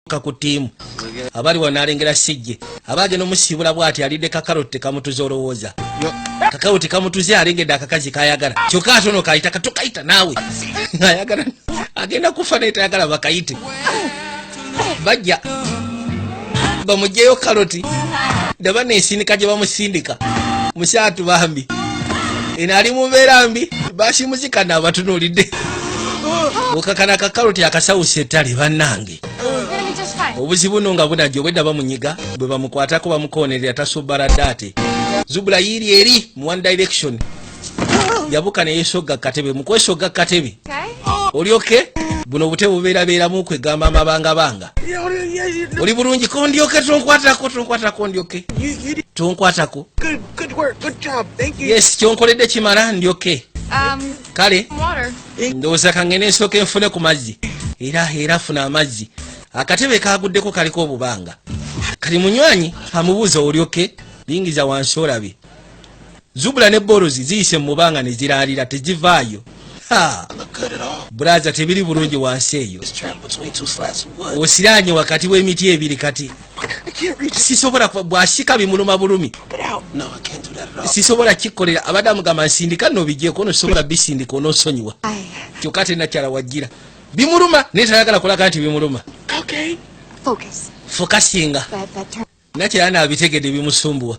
ka ku tiimu abali wano nalengera sijje aba agenda omusiibula bwati alidde kakaroti tekamutuza olowooza kakaroti kamutuze alengedde akakazi kayagala kyokka ate ono kayita katukayita naawe ayagala agenda kufa naye tayagala bakayite bajja bamugyeyo karoti daba nensindika gye bamusindika musaatu bambi eno ali mu mbeera mbi basimuzikana abatunuulidde okakana akakaloti akasawusa ettale bannange obuzibu no nga bunajja obwedda bamunyiga bwe bamukwatako bamukoonerera tasobala daate zubula yiiri eri mu one direction yabuka ne yesogga katebe mu kwesogga katebe oli oke buno obutebe bubeerabeeramu kwegamba amabanga banga oli bulungi kondyoke tonkwatako tonkwatako ndyoke tonkwatako yes kyonkoledde kimala ndyoke um, kale ndowooza kangene nsooka enfune ku mazzi era era funa amazzi akatebe kaguddeko kaliko obubanga kali munywanyi amubuuza olyoke lingiza wansi olabe zubula ne borozi ziyise mubanga ne ziralira tezivaayo buraza tebiri bulungi wansi eyo osiranye wakati w'emiti ebiri kati sisobola bwasika bimuluma bulumi sisobola kikolera abadde amugamba nsindika nobijeko ono sisobola bisindika onosonyiwa kyokka ate nakyala wajjira bimuluma naye tayagala kulaga nti bimuluma fokasinga nakyala nabitegede bimusumbuwa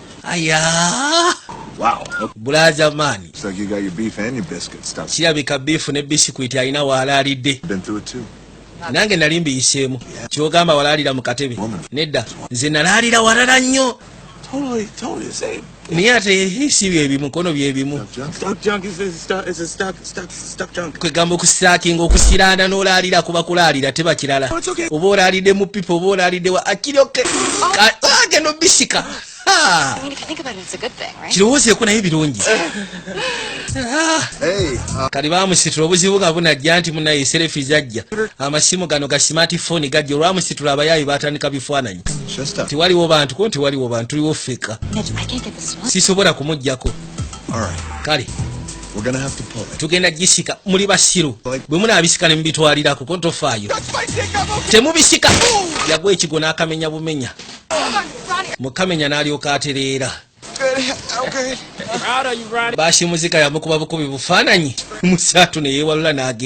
ayaa Wow. Bulaza man. Looks like you got your beef and your biscuit stuff. Kirabika beef ne biscuit alina waalaalidde. Been through it too. Nange nali mbiyiseemu. Kyogamba walaalira mu katebe. Nedda. Nze nalaalira walala nnyo. Totally, totally the same. Naye ate si bye bimu, kono bye bimu. Stock junk is a stock, is a stock, stock. kwegamba okusakinga okusiranda nolaalira kuba kulaalira teba kirala oba olaalidde mu pipa oba olaalidde wa akiryoke agenda obisika kirowoozeeko naye birungi uh, kali bamusitula obuzibu nga bunajja nti munaye serefi zajja amasimu gano ga simatifoni gajja olwamusitula abayaayi batandika bifaananyi tiwaliwo bantu ko nti waliwo bantu tuliwo feka sisobola kumugjako kale tugenda gisika muli basiru bwe munabisika ne mubitwalira kuko tofaayo temubisika yagwa ekigo n'akamenya bumenya mukamenya n'alyoka atereera baasi muzika yamukuba bukubi bufaananyi musaatu ne yeewalula n'agenda